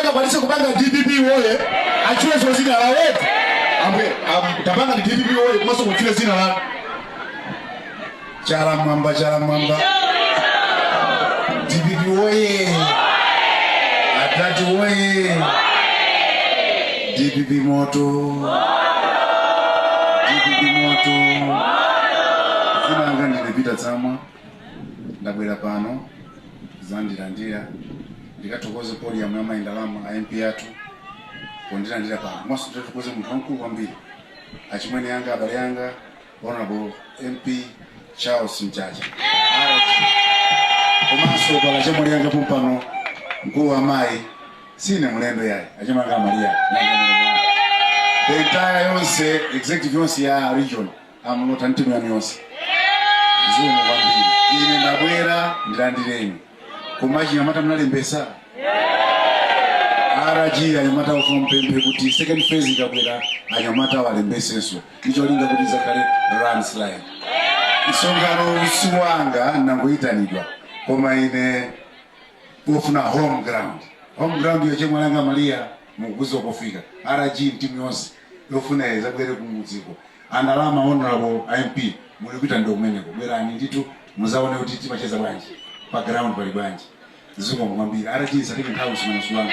akwanise kupanga DPP woye achiweso zina la wote amwe am- tapanga ndi DPP woye komanso kuchile zina la Chala mwamba, chala mwamba. DPP woye. Atati woye. DPP moto. DPP moto. Zina langa ndine Peter Tsamwa. Ndabwera pano. Zandilandira. Ndikathokoze podium ya mayi Ndalama a MP athu. Pondilandira pano. Komanso ndikathokoze munthu wamkulu kwambiri. Achimwene yanga abale yanga Honorable MP Charles Mchacha komanso kwa achemwali anga pompano mkulu wa mayi sine mlendo yayi achemwali anga Maria the entire yonse executive yonse ya region a Mlota ndi timu yanu yonse zikomo kwambiri ine ndabwera ndilandireni koma achinyamata munalembesa RG anyamata ndufuna ndipemphe kuti second phase ikabwera anyamata awalembesenso ndicholinga kuti zakhale landslide msonkhano siwanga ndangoyitanidwa koma ine ndufuna home ground home ground ya achemwali anga Maria mukudzafika RG ndi timu yonse ndufuna izabwere kumudziko A Ndalama honorable a MP mulikupita ndi kumeneko bwerani ndithu muzaone kuti timacheza bwanji pa ground pali bwanji zikomo kwambiri RG tisatenge nthawi msonkhano siwanga